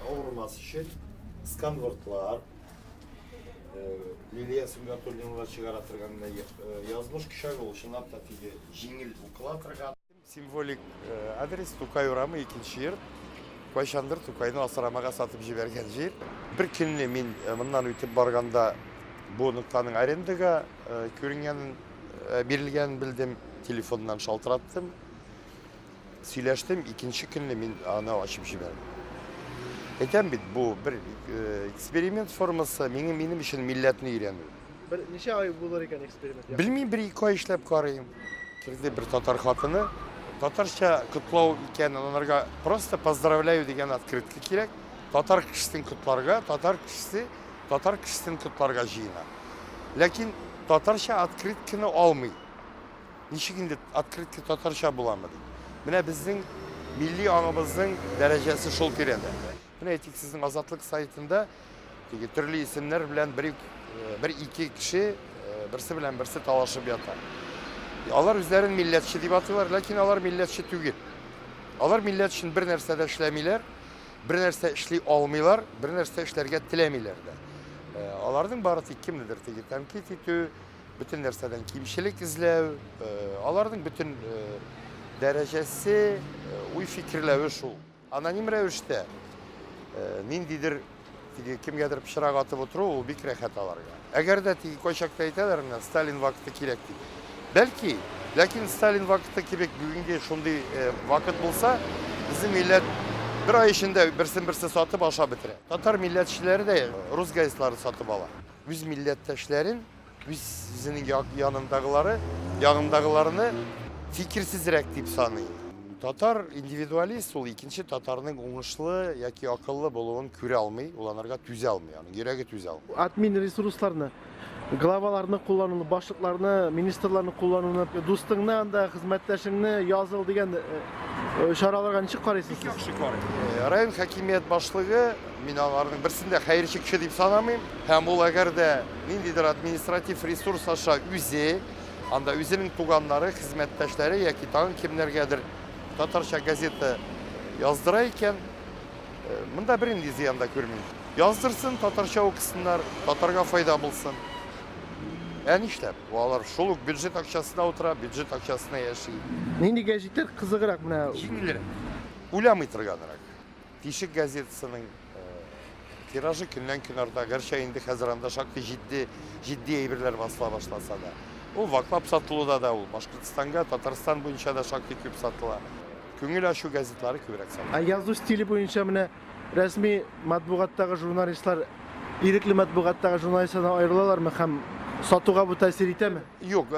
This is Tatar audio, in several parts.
Авырмас өчен сканвортлар, лилия сүнгән турнирга чыгара торган язмыш кишәге ул чынлап та теге җиңел укыла торган. Символик адрес Тукай урамы икенче йорт. Кайчандыр Тукайны асрамага сатып җибәргән җир. Бер көнне мин моннан үтеп барганда бу ноктаның арендага күренгәнен бирелгәнен белдем, телефоннан шалтыраттым. Сөйләштем, икенче көнне мин аны ачып җибәрдем. Әйтәм бит, бу бер э, эксперимент формасы, минем, минем өчен милләтне өйрәнү. Бер ничә ай булыр икән эксперимент? Белмим, бер ике ай эшләп карыйм. Кирде бер татар хатыны. Татарча котлау икән, аларга просто поздравляю дигән открытка кирәк. Татар кешесен котларга, татар кешесе татар кешесен котларга җыена. Ләкин татарча открытканы алмый. Ничек инде открытка татарча буламы дип. Менә безнең милли аңыбызның дәрәҗәсе шул тирәдә. Менә әйтик, сезнең Азатлык сайтында теге төрле исемнәр белән бер э, бер ике кеше э, берсе белән берсе талашып ята. Алар үзләрен милләтче дип атыйлар, ләкин алар милләтче түгел. Алар милләт өчен бер нәрсә дә эшләмиләр, бер нәрсә эшли алмыйлар, бер нәрсә эшләргә теләмиләр дә. Э, аларның бары тик кемнедер теге тәнкыйть итү, Бөтен нәрсәдән кимчелек эзләү, э, аларның бөтен э, дәрәҗәсе, э, уй фикерләве шул. Аноним рәвештә ниндидер теге кемгәдер пычрак атып отыру ул бик рәхәт аларга. Әгәр дә теге кайчакта әйтәләр менә Сталин вакыты кирәк дип. Бәлки, ләкин Сталин вакыты кебек бүгенге шундый вакыт булса, безнең милләт бер ай эчендә берсен-берсе сатып ашап бетерә. Татар милләтчеләре дә рус газетларын сатып ала. Үз милләттәшләрен, үз үзенең янындагылары, ягындагыларны фикерсезрәк дип саный. Татар индивидуалист ул икенче татарның уңышлы яки акыллы булуын күрә алмый, ул анарга түзә алмый, аның йөрәге түзә алмый. Админ ресурсларны, главаларны куллануны, башлыкларны, министрларны куллануны, дустыңны анда, хезмәттәшеңне языл дигән чараларга ничек карыйсыз сез? Бик яхшы карыйм. Район хакимият башлыгы Мин аларның берсен дә хәерчекче дип санамыйм. Һәм ул әгәр дә ниндидер административ ресурс аша үзе, анда үзенең туганнары, хезмәттәшләре яки тагын кемнәргәдер татарча газета яздыра икән, монда бернинди зыян да күрмим. Яздырсын, татарча укысыннар, татарга файда булсын. Ә нишләп? Алар шул ук бюджет акчасына утыра, бюджет акчасына яши. Нинди гәҗитләр кызыграк менә? Җиңелрәк. Уйламый торганрак. Тишек газетасының тиражы көннән-көн арта, гәрчә инде хәзер анда шактый җитди, җитди әйберләр басыла башласа да. Ул ваклап сатылуда да ул Башкортстанга, Татарстан буенча да шактый күп сатыла. Күңел ачу газетлары күбрәк сатыла. Ә язу стиле буенча менә рәсми матбугаттагы журналистлар ирекле матбугаттагы журналистлардан аерылалармы һәм сатуга бу тәэсир итәме? Юк,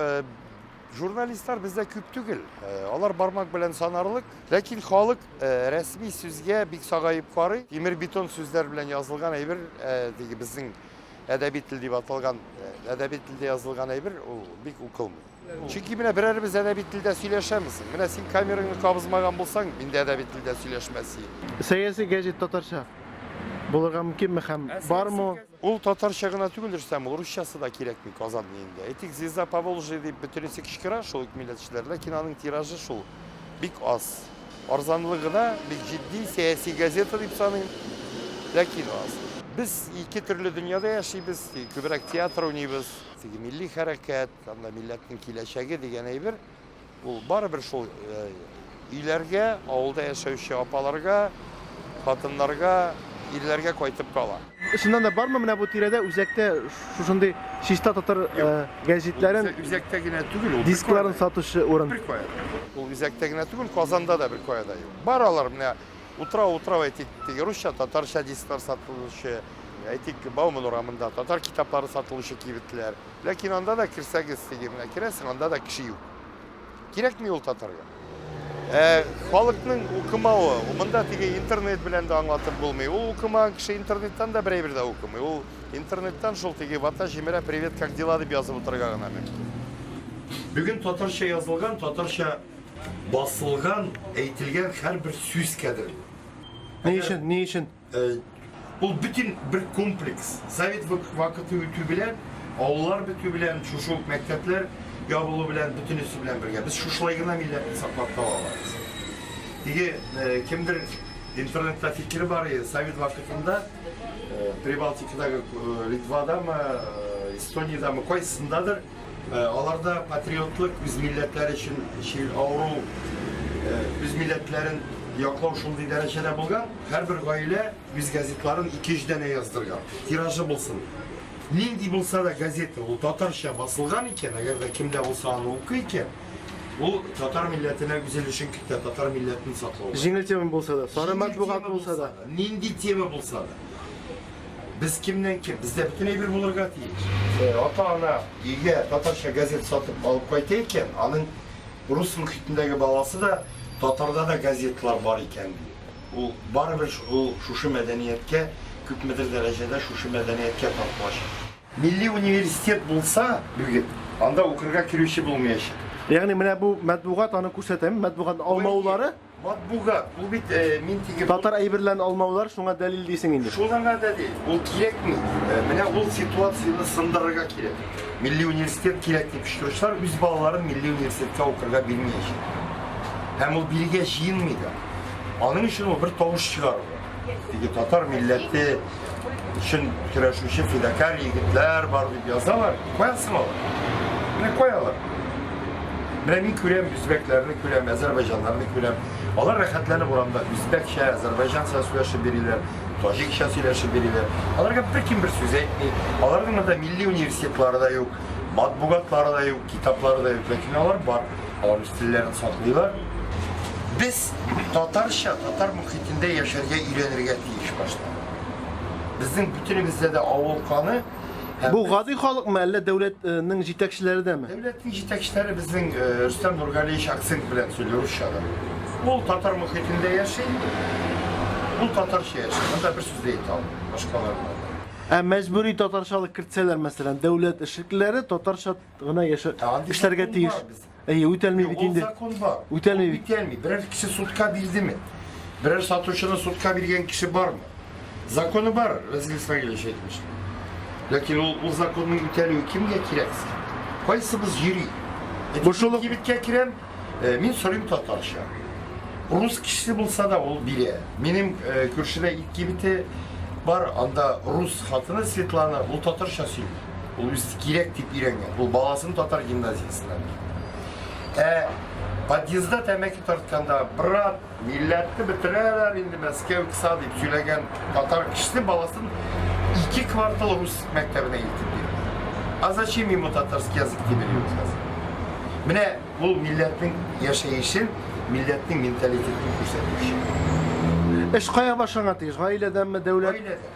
Журналистлар бездә күп түгел. Э, алар бармак белән санарлык. Ләкин халык э, рәсми сүзгә бик сагаеп карый. Тимер бетон сүзләр белән язылган әйбер диге безнең әдәби тел дип аталган әдәби телдә язылган әйбер ул бик укылмый. Чөнки менә берәребез әдәби телдә сөйләшәмез. Менә син камераңны кабызмаган булсаң, мин дә әдәби телдә сөйләшмәс идем. Сәяси гәҗит татарча булырга мөмкинме һәм бармы? Ул татарча гына түгел, Рөстәм, ул русчасы да кирәкми Казан илендә. Әйтик, Звезда Поволжья дип бөтенесе кычкыра шул ук милләтчеләр, ләкин аның тиражы шул бик аз. Арзанлыгы да бик җитди, сәяси газета дип саныйм, ләкин аз. Без ике төрле дөньяда яшибез, күбрәк театр уйныйбыз. Теге милли хәрәкәт, анда милләтнең киләчәге дигән әйбер. Ул барыбер шул өйләргә, авылда яшәүче апаларга, хатыннарга, ирләргә кайтып кала. Чыннан да бармы менә бу тирәдә үзәктә шушындый чиста татар гәҗитләрен, үзәктә генә түгел, ул дискларын сатучы урын? Беркая. Ул үзәктә генә түгел, Казанда да беркая да юк. Бар алар менә утрау, утрау әйтик, теге русча, татарча дисклар сатылучы, әйтик, Бауман урамында татар китаплары сатылучы кибетләр. Ләкин анда да керсәгез, теге менә керәсең, анда да кеше юк. Кирәкми ул татарга. Ә халыкның укымавы, монда теге интернет белән дә аңлатып булмый. Ул укымаган кеше интернеттан да бер әйбер дә укымый. Ул интернеттан шул теге вата җимерә, привет, как дела дип язып утырырга гына мөмкин. Бүген татарча язылган, татарча басылган, әйтелгән һәрбер сүз кадерле. Ни өчен? Ни өчен? Э, ул бөтен бер комплекс. Совет вакыты үтү белән, авыллар бетү белән, шушы ук мәктәпләр ябылу белән, бөтенесе белән бергә. Без шушылай гына милләтне саклап кала алабыз. Теге э, кемдер интернетта фикере бар иде, совет вакытында э, Прибалтикадагы Литвадамы, Эстониядәме, кайсындадыр Аларда патриотлык, үз милләтләре өчен чир авыру, үз милләтләрен яклау шундый дәрәҗәдә булган, һәрбер гаилә үз газетларын ике-өч данә яздырган, тиражы булсын. Нинди булса да газета, ул татарча басылган икән, әгәр дә кемдә булса аны укый икән, ул татар милләтенә үз өлешен кертә, татар милләтен саклауда. Җиңел тема булса да, сары матбугат булса да. Нинди тема булса да. Без кемнән ким? Бездә бөтен әйбер булырга тиеш. Э, ата-ана өйгә татарча газет сатып алып кайта икән, аның рус мөхитендәге баласы да татарда да газетлар бар икән ди. Ул барыбер ул шушы мәдәнияткә күпмедер дәрәҗәдә шушы мәдәнияткә тартылачак. Милли университет булса, бүген анда укырга керүче булмаячак. Ягъни менә бу матбугат аны күрсәтәме? Матбугат алмаулары Матбугат, бу бит э, мин тиге... Татар әйберләрен алмаулар шуңа дәлил дисең инде. Шуңа дәлил, ул кирәкми. Э, менә ул ситуацияне сындырырга кирәк. Милли университет кирәк дип шүршләр үз балаларын милли университетка укырга бирмәячәк. Һәм ул биргә җыенмый да. Аның өчен ул бер тавыш чыгару. Теге татар милләте өчен көрәшүче фидакар егетләр бар дип язалар. Каясың ул? Менә каялар. Менә мин күрәм, үзбәкләрне күрәм, әзербайҗаннарны күрәм. Алар рәхәтләнеп урамда үзбәкчә, әзербайҗанча сөйләшеп бириләр, таҗикча сөйләшеп бириләр. Аларга бер кем бер сүз әйтми. Аларның монда милли университетлары да юк. Матбугатлары да юк, китаплары да юк, ләкин алар бар. Алар үз телләрен саклыйлар. Без татарча, татар мөхитендә яшәргә өйрәнергә тиеш башта. Безнең бөтенебездә дә авыл каны Бу гади халыкмы, әллә дәүләтнең э, җитәкчеләре дәме? Дәүләтнең җитәкчеләре безнең э, Рөстәм Нургалиевич акцент белән сөйли русча да. Ул татар мөхитендә яши, ул татарча яши. Монда бер сүз дә әйтә алмый, башкаларда. Ә мәҗбүри татарчалык кертсәләр, мәсәлән, дәүләт эшлеклеләре татарча гына яшә эшләргә тиеш. Әйе, үтәлми бит инде. Үтәлми бит. Үтәлми. Берәр кеше судка бирдеме? Берәр сатучыны судка биргән кеше бармы? Законы бар, Разил Исмаилович әйтмешли. Ләкин ул, ул законның үтәлүе кемгә кирәк? Кайсыбыз йөри? Бушылык кибеткә керәм, Э, мин сорыйм татарча. Рус кешесе булса да ул бирә. Минем э, күршедә ит кибете бар, анда рус хатыны Светлана, ул татарча сөйли. Ул үз кирәк дип өйрәнгән. Ул баласын татар гимназиясеннән. Ә подъездда тәмәке тартканда брат Милләтне бетерәләр инде Мәскәү кса дип сөйләгән татар кешесе баласын ике квартал рус мәктәбенә илтеп бирде. А зачем ему татарский язык дип белүен хәзер. Менә ул милләтнең яшәешен, милләтнең менталитетын күрсәтүче. Эш кая башланга тиеш? Гаиләдәнме, дәүләт? Гаиләдә.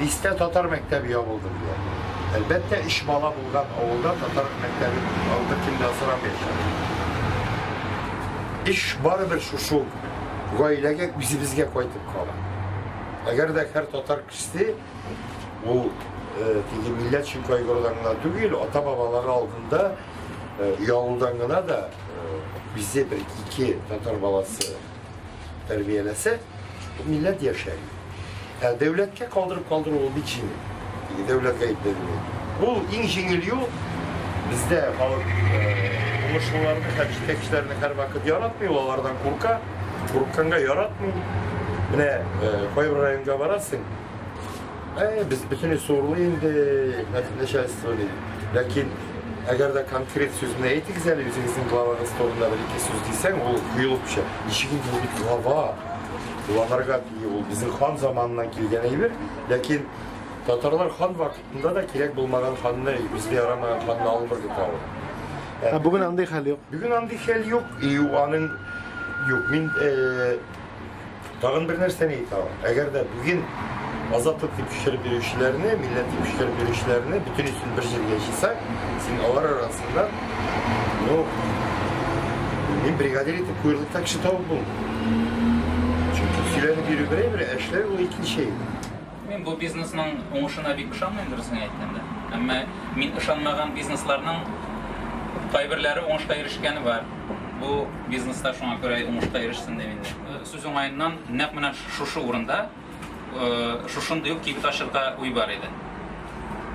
Дистә татар мәктәбе ябылды диләр. Әлбәттә, өч бала булган авылда татар мәктәбе ул беркем дә сорамаячак. Эш барыбер шушы ук гаиләгә, үзебезгә кайтып кала. Әгәр дә һәр татар кешесе ул теге милләт өчен кайгырудан гына түгел, ата-бабалары алдында оялудан гына да үзе бер ике татар баласы тәрбияләсә, милләт яшәр. Ә дәүләткә калдырып калдыру ул бик җиңел. Теге дәүләт гаепләнмәй. Ул иң җиңел юл бездә халык э, уңышлыларны һәм җитәкчеләрне һәрвакыт яратмый, ул алардан курка, курыкканга яратмый. Менә э, кайбер районга барасың, Ә, без бөтенләй суырлы инде, начальство ди. Ләкин Әгәр дә конкрет сүзне әйтегез әле, үзегезнең главагыз турында бер ике сүз дисәң, ул куелып төшә. Ничек инде ул бит глава? Главарга тиги ул безнең хан заманыннан килгән әйбер, ләкин татарлар хан вакытында да кирәк булмаган ханны, үзгә ярамаган ханны алып бер көтә ул. Ә бүген андый хәл юк. Бүген андый хәл юк, и аның юк. Мин э, Тагын бер нәрсәне әйтә алам. Әгәр дә бүген азатлык дип төшереп бирүчеләрне, милләт дип төшереп бирүчеләрне бөтен өчен бер җиргә җыйсак, син алар арасында, ну, мин бригадир итеп куерлыкта кеше табып булмый. Чөнки сөйләнеп йөрү берәй бер, ә эшләр ул икенче. Мин бу бизнесның уңышына бик ышанмыйм, дөресен әйткәндә. Әмма мин ышанмаган бизнесларның кайберләре уңышка ирешкәне бар. Бу бизнес та шуңа күрә уңышка ирешсен дим инде. Сүз уңаеннан, нәкъ менә шушы урында шушындый ук кибет ачырга уй бар иде.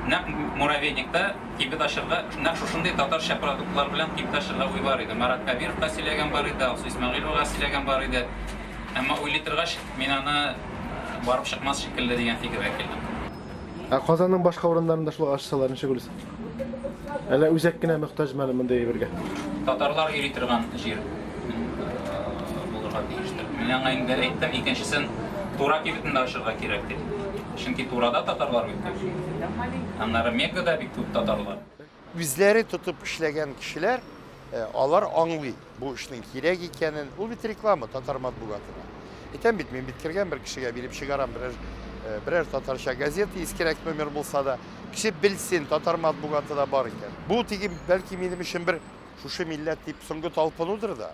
Нәкъ Муравейникта кибет ачырга, нәкъ шушындый татарча продуктлар белән кибет ачырга уй бар иде. Марат Кәбировка сөйләгән бар иде, Алсу Исмәгыйловага сөйләгән бар иде. Әмма уйлый торгач, мин аны Барып чыкмас шикелле дигән фикергә килдем. Ә Казанның башка урыннарында шулай ачсалар, ничек уйлыйсың? Әллә үзәк кенә мөхтаҗмы әле мондый әйбергә? Татарлар йөри торган җир булырга тиештер. Мин аңа инде әйттем, икенчесен Тура кибетендә ачырга кирәк дип. Чөнки Турада татарлар бик күп. Аннары Меккада бик күп татарлар. Үзләре тотып эшләгән кешеләр, алар аңлый бу эшнең кирәк икәнен. Ул бит реклама татар матбугатына. Әйтәм бит, мин бит кергән бер кешегә биреп чыгарам берәр, берәр татарча газета, искерәк номер булса да. Кеше белсен, татар матбугаты да бар икән. Бу теге, бәлки, минем өчен бер шушы милләт дип соңгы талпынудыр да.